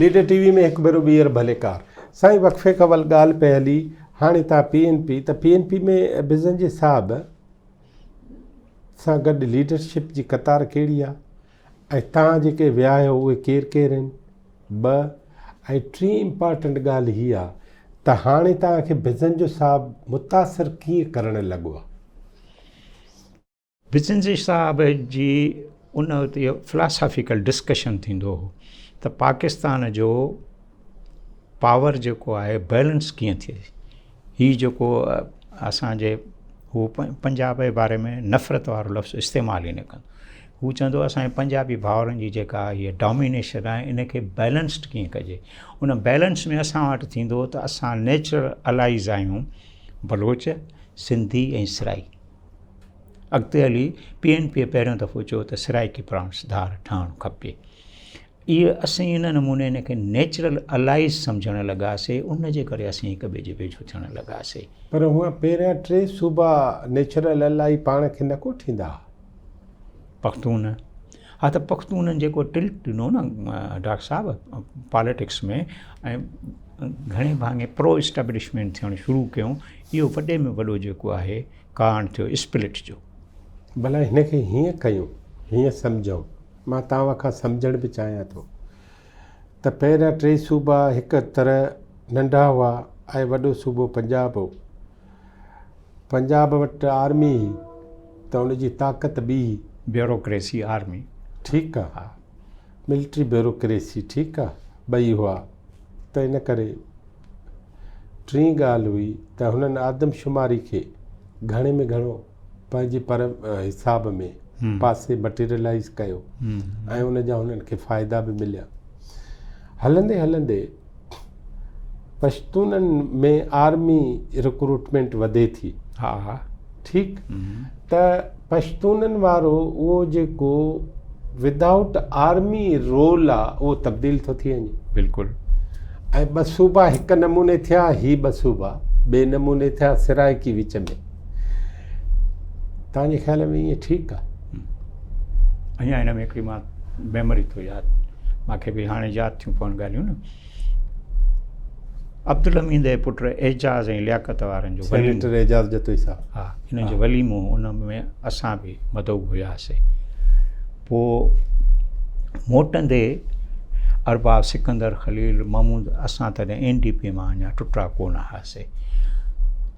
Leader TV وي ۾ هڪ ڀيرو ٻيهر ڀلي ڪار. سائين وقفي کان اول ڳالهه پئي هلي هاڻي تان پي اين پي ته پي اين پي ۾ بزنجي صاحب سان گڏ ليڊرشپ جي قطار ڪهڙي آ؟ ۽ تان جيڪي ويا آهيو اهي ڪير ڪير آهن؟ ٻه ۽ ٽين امپارٽنٽ ڳالهه هي آ ته هاڻي تان کي بزنجو صاحب متاثر ڪيئن ڪرڻ لڳو آ؟ بزنجي صاحب جي ان وقت اهو فلاسافيڪل ڊسڪشن ٿيندو هو ته پاڪستان جو پاور جيڪو آهي بيلنس ڪيئن ٿئي؟ هي جيڪو اسانجي هو پنجاب جي باري ۾ نفرت وارو لفظ استعمال ئي نه ڪن هو چوندو هو اسانجي پنجابي ڀاورن جي جيڪا هي ڊامينيشن آهي ان کي بيلنسڊ ڪيئن ڪجي ان بيلنس ۾ اسان وٽ ٿيندو هو ته اسان نيچرل الائيز آهيون بلوچ سنڌي ۽ سرائي اڳتي هلي پي اين پي پهريون دفعو چيو ته سرائيڪي پرانس ڌار ٺهڻ کپي اهي اسين ان نموني ان کي نيچرل الائيز سمجهڻ لڳاسي ان جي ڪري اسين هڪ ٻئي جي ويجهو ٿيڻ لڳاسي. پر هونئن پهريان ٽي صوبا نيچرل الائي پاڻ کي نه ڪوٺيندا ها. پختون ها ته پختونن جيڪو ٽلٽ ڏنو نه ڊاڪٽر صاحب پاليٽڪس ۾ ۽ گهڻي ڀاڱي پرو اسٽيبلشمينٽ ٿيڻ شروع ڪيون اهو وڏي ۾ وڏو جيڪو آهي ڪارڻ ٿيو اسپلٽ جو. ڀلا هن کي هيئن ڪيون هيئن سمجهون. مان توهان کان سمجهڻ به چاهيان ٿو ته پهريان ٽي صوبا هڪ طرح ننڍا هئا ۽ وڏو صوبو پنجاب هو. پنجاب وٽ آرمي هئي ته ان جي طاقت ٻي هئي. Bureaucracy army. ٺيڪ آ. ها. ملٽري بيوروڪريسي ٺيڪ آ. ٻئي هئا ته ان ڪري ٽين ڳالهه هئي ته هنن آدمشماري کي گهڻي ۾ گهڻو. پنهنجي پر حساب ۾ پاسي مٽيريلائز ڪيو ۽ ان جا هنن کي فائدا به مليا هلندي هلندي پشتونن ۾ آرمي رڪروٽمنٽ وڌي ٿي ها ها ٺيڪ ته پشتونن وارو اهو جيڪو ودائوٽ آرمي رول آ اهو تبديل ٿو ٿي وڃي بلڪل ۽ ٻه صوبا هڪ نموني ٿيا هي ٻه صوبا ٻئي نموني ٿيا سرائڪي وچ ۾ تنهنجي خيال ۾ ائين ٺيڪ آ؟ اڃا هن ۾ هڪڙي مان ميموري ٿو ياد ماکي به هاڻي ياد ٿيون پون ڳالهيون نه عبدالحميد جي پٽ اعجاز ۽ لياقت وارن جو سينيٽر اعجاز جتوئي صاحب ها هن جو وليمو ان ۾ اسان به مدعو هياسي پو موٽندي ارباب سڪندر خليل محمود اسان تڏهن اين ڊي پي مان اڃا ٽٽا ڪونه هئاسي سي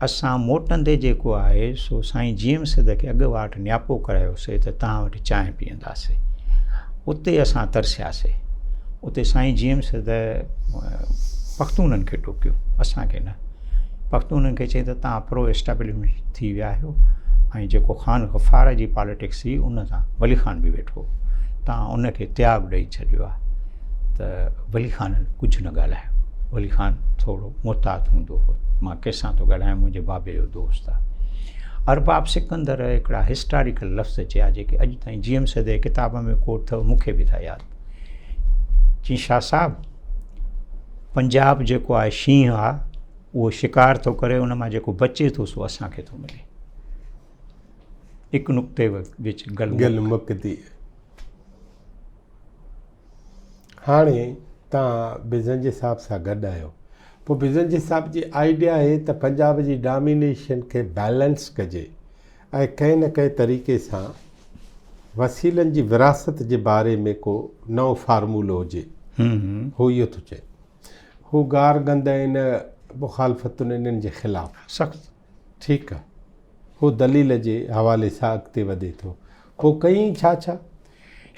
اسان موٽندي جيڪو آهي سو سائين جيم سيد کي اڳ واٽ نياپو ڪرايو سي ته توهان وٽ چانهه پيئندا سي اتي اسان ترسيا سي اتي سائين جيم سيد پختونن کي ٽوڪيو اسان کي نه پختونن کي چئي ته توهان پرو اسٽيبلشمنٽ ٿي ويا آهيو ۽ جيڪو خان غفار جي پاليٽڪس هئي ان سان ولي خان به ويٺو توهان ان کي تياگ ڏئي ڇڏيو آهي ته ولي خانن ڪجهه نه ڳالهايو ولي خان ٿورو محتاط هوندو هو. مان ڪنهن سان ٿو ڳالهايان، منهنجي بابي جو دوست آ. ارباب سڪندر هڪڙا هسٽاريڪل لفظ چيا جيڪي اڄ تائين جي ايم سيد جي ڪتاب ۾ ڪوٽ اٿو مون کي به ٿا ياد چين شاهه صاحب پنجاب جيڪو آهي شينهن آ اهو شڪار ٿو ڪري ان مان جيڪو بچي ٿو سو اسان کي ٿو ملي هڪ نقطي وچ گل گل مڪ ٿي هاڻي توهان بزنجي صاحب سان گڏ آهيو پوء بزنجي صاحب جي آئيڊيا آهي ته پنجاب جي ڊامينيشن کي بيلنس ڪجي ۽ ڪنهن نه ڪنهن طريقي سان وسيلن جي وراثت جي باري ۾ ڪو نئون فارمولو هجي هو اهو ٿو چئي هو گار گند ۽ ان مخالفتن انهن جي خلاف سخت ٺيڪ آ. هو دليل جي حوالي سان اڳتي وڌي ٿو. پوء ڪيئين ڇا ڇا؟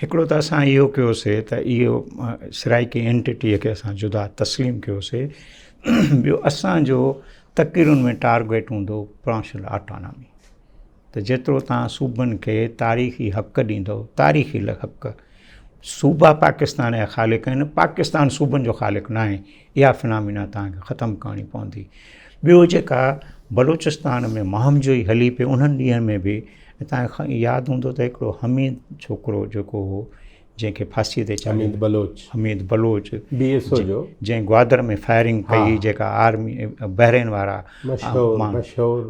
هڪڙو ته اسان اهو ڪيوسي ته اهو سرائيڪي اينٽيٽيء کي اسان جدا تسليم ڪيوسي. ٻيو اسان جو تقريرن ۾ ٽارگيٽ هوندو پرانشل آٽانامي. ته جيترو توهان صوبن کي تاريخي حق ڏيندو تاريخي حق صوبا پاڪستان جا خالق آهن پاڪستان صوبن جو خالق ناهي اها فنامينا توهان کي ختم ڪرڻي پوندي ٻيو جيڪا بلوچستان ۾ مهم جوئي هلي پئي انهن ڏينهن ۾ به توهان کي ياد هوندو ته هڪڙو حميد ڇوڪرو جيڪو هو جنهن کي ڦاسي تي چاڙهيو Hameed Baloch Hameed Baloch B S O جو جنهن گوادر ۾ فائرنگ ڪئي جيڪا آرمي بحرين وارا مشهور مشهور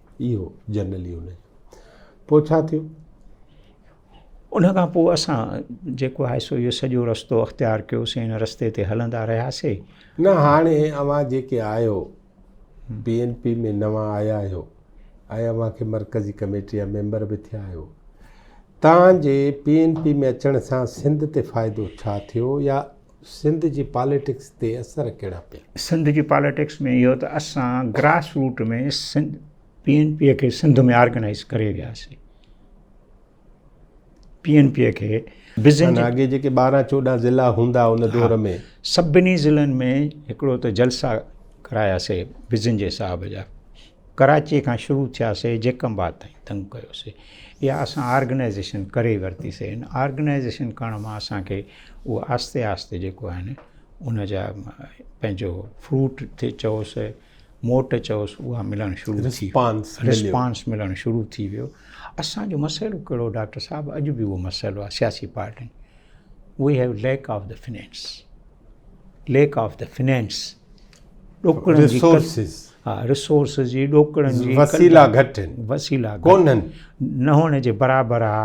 اهو جنرل يونين جو پوء ڇا ٿيو؟ ان کان پوء اسان جيڪو آهي سو اهو سڄو رستو اختيار ڪيوسين ان رستي تي هلندا رهياسين نه هاڻي اوهان جيڪي آهيو بي اين پي ۾ نوان آيا آهيو ۽ اوهان کي مرڪزي ڪميٽي جا ميمبر به ٿيا آهيو تان جي پي اين پي ۾ اچڻ سان سنڌ تي فائدو ڇا ٿيو يا سنڌ جي پاليٽڪس تي اثر ڪهڙا پيا؟ سنڌ جي پاليٽڪس ۾ اهو ته اسان grass root ۾ Sindh P N P کي سنڌ ۾ آرگنائيز ڪري وياسي پي اين پي کي بزنس اڳي جيڪي ٻارهن چوڏهن ضلع هوندا ان دور ۾ سڀني ضلعن ۾ هڪڙو ته جلسا ڪراياسي بزنس جي صاحب جا ڪراچيء کان شروع ٿياسي جيڪب آباد تائين تنگ ڪيوسي اها اسان آرگنائيزيشن ڪري ئي ورتي سي ان آرگنائيزيشن ڪرڻ مان اسان کي اهو آهستي آهستي جيڪو آهي نه ان جا پنهنجو فروٽ ٿي چئوس موٽ چئوس اها ملڻ شروع ٿي رسپانس ملڻ شروع ٿي ويو اسانجو مسئلو ڪهڙو ڊاڪٽر صاحب اڄ به اهو مسئلو آهي سياسي پارٽين we have lack of the finance lack of the finance ڏوڪڙن جي ريسورسز ها ريسورسز جي ڏوڪڙن جي وسيلا گهٽ آهن وسيلا ڪونهن نه هئڻ جي برابر آ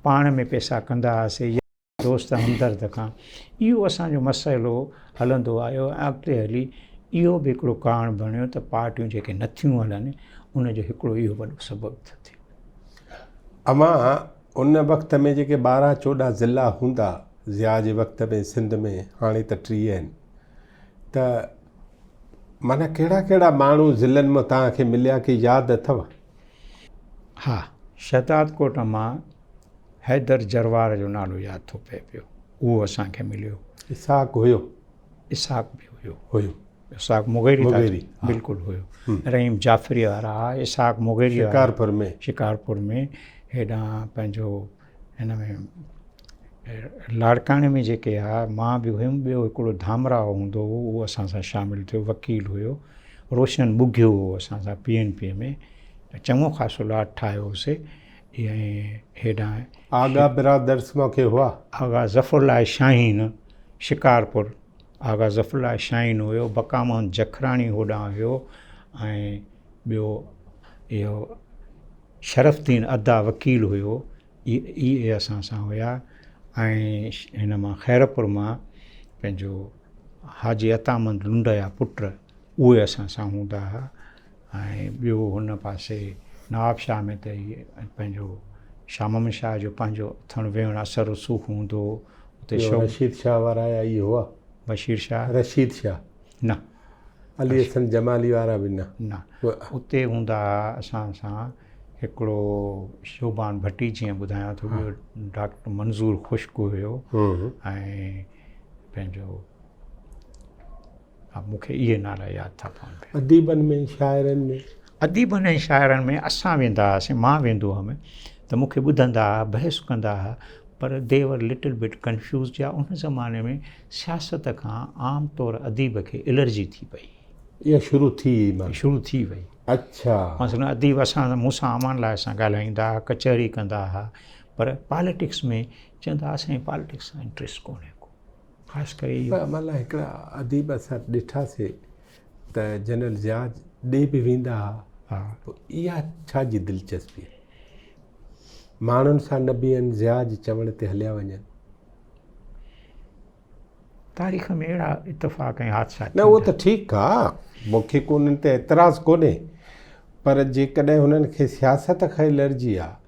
پاڻ ۾ پئسا ڪندا هئاسي دوست همدرد کان اهو اسان جو مسئلو هلندو آيو ۽ اڳتي هلي اهو به هڪڙو ڪارڻ بڻيو ته پارٽيون جيڪي نٿيون هلن ان جو هڪڙو اهو وڏو سبب ٿيو امان ان وقت ۾ جيڪي ٻارهن چوڏهن ضلع هوندا ضياء جي وقت ۾ سنڌ ۾ هاڻي ته ٽيهه آهن ته مانا ڪهڙا ڪهڙا ماڻهو ضلعن ۾ تان کي مليا ڪي ياد اٿو ها شهداد ڪوٽ مان حيدر جروار جو نالو ياد ٿو پئي پيو اهو اسان کي مليو اسحاق هيو اسحاق به هيو هيو اسحاق مغيري مغيري بلڪل هيو رحيم جعفري وارا اسحاق مغيري شڪارپور ۾ شڪارپور ۾ هيڏان پنهنجو هن ۾ لاڙڪاڻي ۾ جيڪي آ مان به هيم ٻيو هڪڙو ڌامرا هوندو هو اهو اسان سان شامل ٿيو وڪيل هيو روشن ٻگهيو هو اسان سان پي اين پي ۾ چڱو خاصو لاٽ ٺاهيو هوسي ۽ هيڏان آغا برادرس موکي هئا آغا ظفر الله شاهين شڪارپور آغا ظفر الله شاهين هيو، بقا محمد جکراڻي هوڏانهن هيو ۽ ٻيو اهو شرف الدين ادا وڪيل هيو اهي اهي اسان سان هيا ۽ هن مان خيرپور مان پنهنجو حاجي عطا محمد لنڊ جا پٽ اهي اسان سان هوندا هئا ۽ ٻيو هن پاسي نواب شاهه ۾ ته هي پنهنجو شاهه محمد شاهه جو پنهنجو اٿڻ ويهڻ اثر رسوخ هوندو هو. اتي ٻيو شوق. رشيد شاهه وارا آيا اهي هئا؟ بشير شاهه؟ رشيد شاهه. نه. علي رشيد. حسن جمالي وارا به نه. نه. و. اتي هوندا هئا اسان سان هڪڙو شوبان ڀٽي جيئن ٻڌايان ٿو، ها. ٻيو ڊاڪٽر منظور خشڪ هيو ها. ۽ پنهنجو. ها مون کي اهي نالا ياد ٿا پون پيا. اديبن ۾ شاعرن ۾؟ اديبن ۽ شاعرن ۾ اسان ويندا هئاسين مان ويندو هئم ته مون کي ٻڌندا ها بحث ڪندا ها پر they were little bit confused جا ان زماني ۾ سياست کان عام طور اديب کي الرجي ٿي پئي يا شروع ٿي وئي مان شروع ٿي وئي اڇا مثلا اديب اسان مون سان امان لاء سان ڳالهائيندا ها ڪچهري ڪندا ها پر پاليٽڪس ۾ چوندا ها سائين پاليٽڪس سان انٽريسٽ ڪونهي ڪو. خاص ڪري اهو. پر اوهان لاء هڪڙا عديب اثر ڏٺاسي ته جنرل ضياء ڏي به ويندا ها پوء اها ڇا جي دلچسپي آهي ماڻهن سان نه بيهن ضياء جي چوڻ تي هليا وڃن. تاريخ ۾ اهڙا اتفاق ۽ حادثا ٿيندا. نه اهو ته ٺيڪ آ مون کي ڪو انهن تي اعتراض ڪونهي پر جيڪڏهن هنن کي سياست کان ئي الرجي آ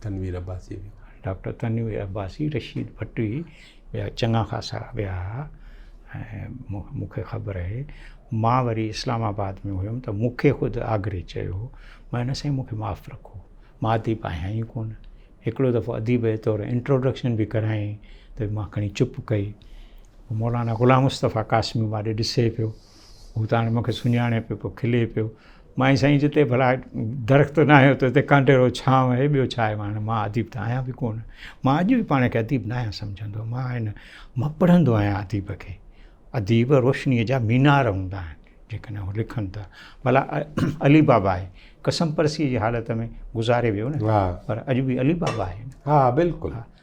تنوير عباسيء جو. ڊاڪٽر تنوير عباسي، رشيد ڀٽي ٻيا چڱا خاصا ويا ها ۽ مون کي خبر آهي. مان وري اسلام آباد ۾ هيم ته مون کي خود آگري چيو هو. مان چيو نه سائين مون کي معاف رکو. مان اديب آهيان ئي ڪونه. هڪڙو دفعو اديب جي طور انٽروڊڪشن به ڪرايائين ته مان کڻي چپ ڪئي. مولانا غلام مصطفيٰ قاسمي ماڏي ڏسي پيو. هو ته هاڻي مون کي سڃاڻي پيو پوء کلي پيو. مان هي سائين جتي ڀلا درخت ناهي اتي اتي ڪانڊيرو ڇانو آهي ٻيو ڇا آهي هاڻي مان اديب ته آهيان به ڪونه مان اڄ به پاڻ کي اديب ناهيان سمجهندو مان هن مان پڙهندو آهيان اديب کي اديب روشنيء جا مينار هوندا آهن جيڪڏهن هو لکن ٿا ڀلا علي بابا آهي قسم پرسيء جي حالت ۾ گذاري ويو نه پر اڄ به علي بابا آهي ها بلڪل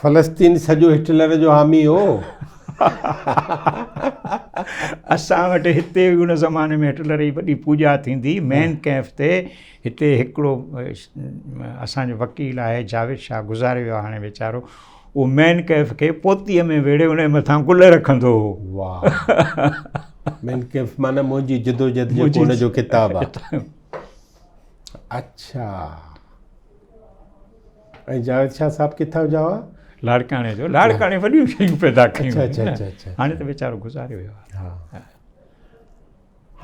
فلسطين سڄو هٽلر جو حامي هو اسان وٽ هتي ان زماني ۾ هٽلر جي وڏي پوڄا ٿيندي مين ڪيف تي هتي هڪڙو اسانجو وڪيل آهي جاويد شاهه گذاري ويو هاڻي ويچارو اهو مين ڪيف کي پوتي ۾ ويڙهي ان مٿان گل رکندو هو واهه مين ڪيف معنی منهنجي جدوجهد جو ان جو ڪتاب آهي اچھا ۽ جاويد شاهه صاحب ڪٿان جو هئا لاڙڪاڻي جو لاڙڪاڻي وڏيون شيون پيدا ڪيون اچھا اچھا اچھا اچھا هاڻي ته ويچارو گذاري ويو ها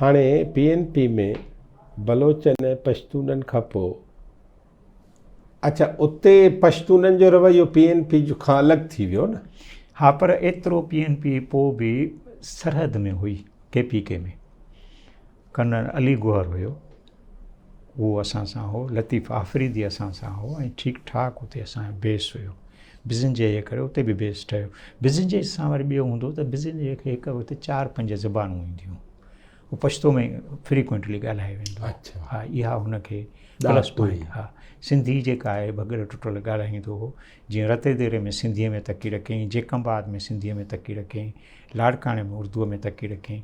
هاڻي پي اين پي ۾ بلوچن ۽ پشتونن کان پو اچھا اتي پشتونن جو رويو پي اين پي جو کان الڳ ٿي ويو نه ها پر ايترو پي اين پي پو به سرحد ۾ هئي ڪي پي ڪي ۾ ڪنر علي گوهر هيو اهو اسان سان هو لطيف آفريدي اسان سان هو ۽ ٺيڪ ٺاڪ اتي اسان جو بيس هيو بزن جي جي ڪري اتي به بيس ٺهيو بزن جي سان وري ٻيو هوندو ته بزن جي کي هڪ وقت چار پنج زبانون اينديون هو پشتو ۾ فريڪوينٽلي ڳالهايو ويندو اچھا ها اها هنکي پلس پوائنٽ ها سنڌي جيڪا آهي بغير ٽٽل ڳالهائيندو هو جيئن رتي ديري ۾ سنڌيء ۾ تڪي رکيائين جيڪم آباد ۾ سنڌيء ۾ تڪي رکيائين لاڙڪاڻي ۾ اردوء ۾ تڪي رکيائين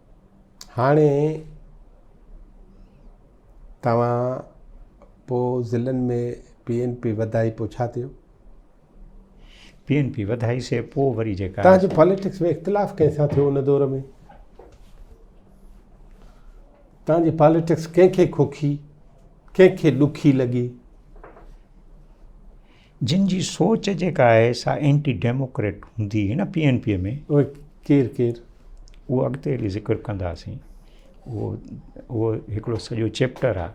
هاڻي توهان پو ضلعن ۾ پي اين پي وڌائي پو ڇا ٿيو؟ پي اين پي وڌائي سي پو وري جيڪا توهان جو پاليٽڪس ۾ اختلاف ڪنهن سان ٿيو ان دور ۾ توهان جي پاليٽڪس ڪنهن کي کوکي ڪنهن کي ڏکي لڳي جن جي سوچ جيڪا آهي سا اينٽي ڊيموڪريٽ هوندي هي نه پي اين پي ۾ اهي ڪير ڪير اهو اڳتي هلي ذڪر ڪنداسين اهو اهو هڪڙو سڄو چيپٽر آ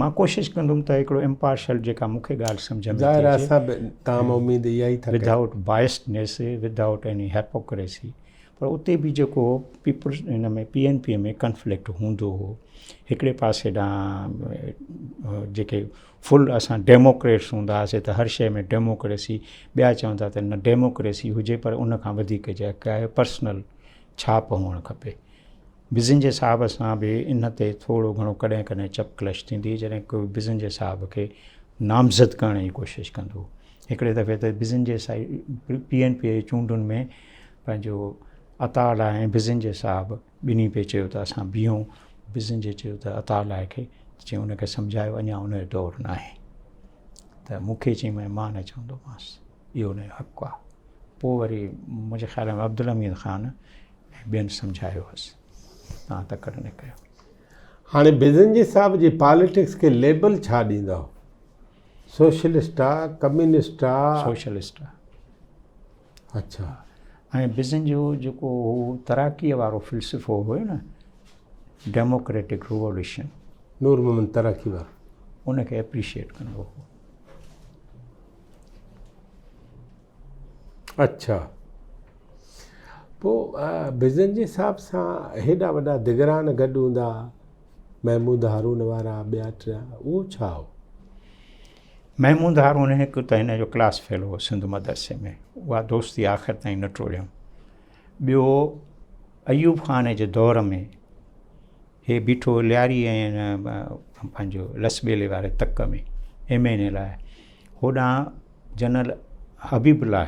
مان ڪوشش ڪندم ته هڪڙو امپارشل جيڪا مون کي ڳالهه سمجھ ۾ ظاهر آهي سڀ تام اميد اها ئي ٿا without biases without any hypocrisy پر اتي به جيڪو پيپلز ان ۾ پي اين پي ۾ ڪنفلڪٽ هوندو هو هڪڙي پاسي ڏانهن جيڪي فل اسان ڊيموڪريٽس هوندا هئاسين ته هر شيء ۾ ڊيموڪريسي ٻيا چون ٿا ته نه ڊيموڪريسي هجي پر ان کان وڌيڪ جيڪا آهي پرسنل ڇاپ هئڻ کپي بزنجي صاحب سان به ان تي ٿورو گهڻو ڪڏهن ڪڏهن چپ ڪلش ٿيندي جڏهن ڪو بزنجي صاحب کي نامزد ڪرڻ جي ڪوشش ڪندو هڪڙي دفعي ته بزنجي صاحب پي اين پي جي چونڊن ۾ پنهنجو عطا لاء بزنجي صاحب ٻنهي پئي چيو ته اسان بيهون، بزن جي چيو ته عطاء الله کي، ته چيائون ان کي سمجهايو اڃا ان جو دور ناهي. ته مون کي چيائين مان مان نه چوندومانس، اهو ان جو حق آ. پوء وري منهنجي خيال ۾ عبدالحميد خان ۽ ٻين سمجهايو هوس، تان تڪڙ نه ڪيو. هاڻي بزنجي صاحب جي پاليٽڪس کي ليبل ڇا ڏيندائو؟ سوشلسٽ آ، ڪميونسٽ آ؟ سوشلسٽ آ. اڇا ۽ بزن جو جيڪو هو تراڪيء وارو فلسفو هيو نه ڊيموڪريٽڪ ريولوشن. نور محمد تراڪي وارو. ان کي اپريشيئيٽ ڪندو هو. اڇا پوء بزن جي حساب سان هيڏا وڏا دگران گڏ هوندا محمود هارون وارا ٻيا ٽيا اهو ڇا هو؟ محمود هارون هڪ ته هن جو ڪلاس فيلو هو سنڌ مدرسي ۾ اها دوستي آخر تائين نه ٽوڙيم ٻيو ايوب خان جي دور ۾ هي بيٺو لياري ۽ پنهنجو لسبيلي واري تڪ ۾ ايم اين اي لاء هوڏانهن جنرل حبيب لاء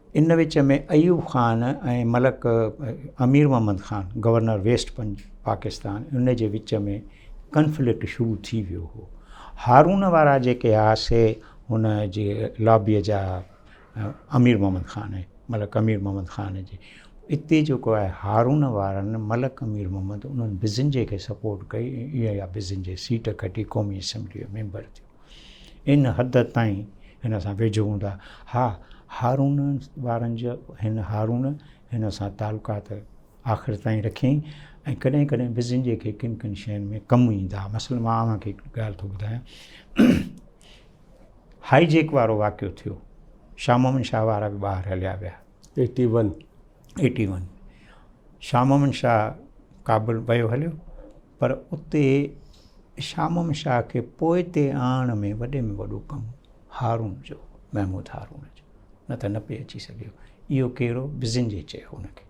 ان وچ ۾ ايوب خان ۽ ملڪ امير محمد خان گورنر ويسٽ پنج پاڪستان ان جي وچ ۾ ڪنفلڪٽ شروع ٿي ويو هو هارون وارا جيڪي ها سي هن جي لابي جا امير محمد خان ۽ ملڪ امير محمد خان جي اتي جيڪو آهي هارون وارن ملڪ امير محمد انهن بزنجي کي سپورٽ ڪئي ۽ اها بزنجي سيٽ کٽي قومي اسيمبلي جو ميمبر ٿيو ان حد تائين هن سان ويجهو هوندا ها. هارون وارن جا هن هارون هن سان تعلقات آخر تائين رکيائين ۽ ڪڏهن ڪڏهن بزنجي کي ڪن ڪن شين ۾ ڪم ايندا ها. مثلا مان اوهان کي هڪ ڳالهه ٿو ٻڌايان. هائي جيڪ وارو واقعو ٿيو. شاهه محمد شاهه وارا به ٻاهر هليا ويا. Eighty one eighty one Shah Muhammad Shah Kabul ويو هليو پر اتي شامم شاهه کي پوئتي آڻڻ ۾ وڏي ۾ وڏو ڪم هارون جو هو، محمود هارون جو، نه ته نه پئي اچي سگهيو. اهو ڪهڙو؟ بزنجي چيو هن کي.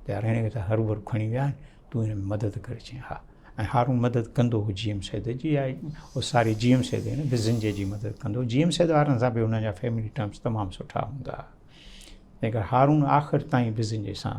ته يار هن کي ته هروڀرو کڻي ويا آهن، تون هن ۾ مدد ڪر. چيائين ها. ۽ هارون مدد ڪندو هو جي ايم سيد جي، آء او ساري جي ايم سيد نه بزنجي جي مدد ڪندو هو. جي ايم سيد وارن سان به هن جا فيملي ٽرمس تمام سٺا هوندا ها. تنهن ڪري هارون آخر تائين بزنجي سان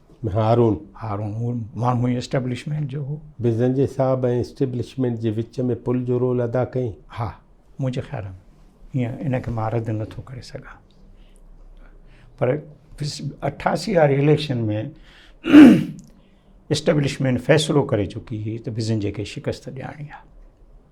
هارون. هارون هو ماڻهو ئي اسٽيبلشمينٽ جو هو. بزنجي صاحب ۽ اسٽيبلشمينٽ جي وچ ۾ پل جو رول ادا ڪئي. ها. منهنجي خيال ۾ هيئن ان کي مان رد نٿو ڪري سگهان. پر اٺاسي واري اليڪشن ۾ اسٽيبلشمينٽ فيصلو ڪري چڪي هئي ته بزنجي کي شڪست ڏيارڻي آهي.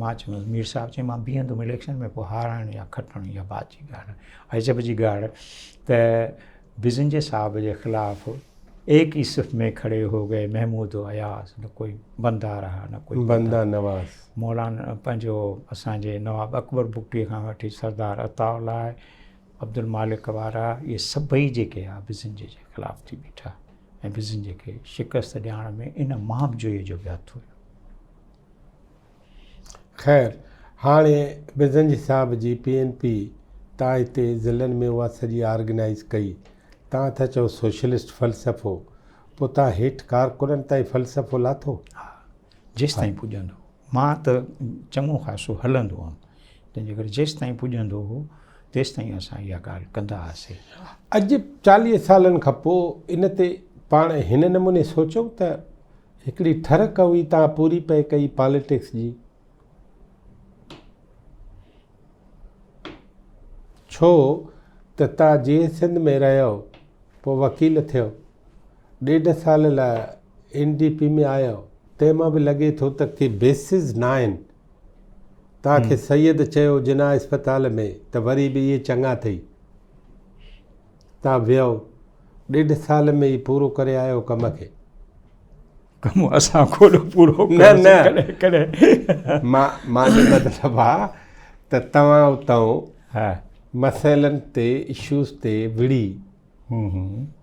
مان چيومانس مير صاحب چيائين مان بيهندم اليڪشن ۾ پوء هارڻ يا کٽڻ اها بعد جي ڳالهه آهي عجب جي ڳالهه ته بزنجي صاحب جي خلاف ايڪ ئي صف ۾ کڙي هو گئي محمود و اياز نه ڪوئي بندا رها نه ڪوئي بندا نواز مولانا پنهنجو اسان جي نواب اڪبر بگٽي کان وٺي سردار عطا الله عبدالمالڪ وارا اهي سڀئي جيڪي آ بزنجي جي خلاف ٿي بيٺا ۽ بزنجي کي شڪست ڏيارڻ ۾ ان مهاب جوئي جو به هٿ هيو خير هاڻي بزنجي صاحب جي پي اين پي تان هتي ضلعن ۾ اها سڄي آرگنائيز ڪئي. تان ٿا چئو سوشلسٽ فلسفو. پوء تان هيٺ ڪارڪنن تائين فلسفو لاٿو؟ ها جيستائين پڄندو مان ته چڱو خاصو هلندو هئم تنهن جي ڪري جيستائين پڄندو هو تيستائين اسان اها ڳالهه ڪندا هئاسي. اڄ چاليهه سالن کان پوء ان تي پاڻ هن نموني سوچيو ته هڪڙي ٺرڪ هئي تان پوري پئي ڪئي پاليٽڪس جي ڇو ته تان جي سنڌ ۾ رهيو پو وڪيل ٿيو ڏيڍ سال لا اين ڊي پي ۾ آيو تنهن مان به لڳي ٿو ته ڪي بيسز ناهن تان کي سيد چيو جناح اسپتال ۾ ته وري به اهي چڱا ٿئي تان ويهو ڏيڍ سال ۾ ئي پورو ڪري آيو ڪم کي. ڪم اسان کوڏو پورو ڪيو نه ڪڏهن مان مان جو مطلب آ ته توهان اتئون مسئلن تي اشوز تي وڙهي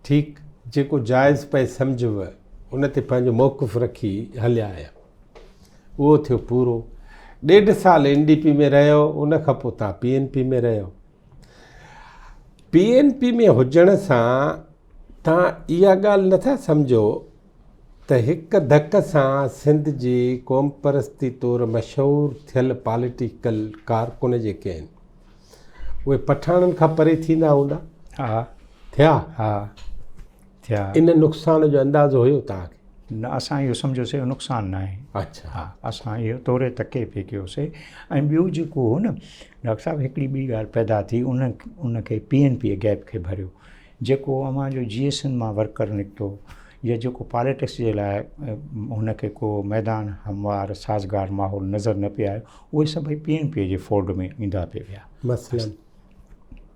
ٺيڪ جيڪو جائز پئي سمجهيو ان تي پنهنجو موقف رکي هليا آيا اهو ٿيو پورو ڏيڍ سال اين ڊي پي ۾ رهيو ان کان پوء تان پي اين پي ۾ رهيو پي اين پي ۾ هجڻ سان توهان اها ڳالهه نٿا سمجهو ته هڪ ڌڪ سان سنڌ جي قومپرستي طور مشهور ٿيل پاليٽيڪل ڪارڪن جيڪي آهن اهي پٺاڻن کان پري ٿيندا هوندا ٿيا ٿيا. ان نقصان جو اندازو هيو توهان کي؟ نه اسان اهو سمجهيوسي اهو نقصان نه آهي. اڇا. ها اسان اهو توري تڪي پي ڪيوسي ۽ ٻيو جيڪو هو نه ڊاڪٽر صاحب هڪڙي ٻي ڳالهه پيدا ٿي ان ان کي پي اين پي گيپ کي ڀريو جيڪو اوهان جو جي ايس اين مان ورڪر نڪتو يا جيڪو پاليٽڪس جي لاء هن کي ڪو ميدان هموار سازگار ماحول نظر نه پي آيو اهي سڀئي پي اين پي جي فولڊ ۾ ايندا پي ويا. مثلاً؟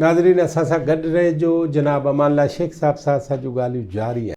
ناظرين اسان سان گڏ رهجو جناب امان الله شيخ صاحب سان اسان جون ڳالهيون جاري آهن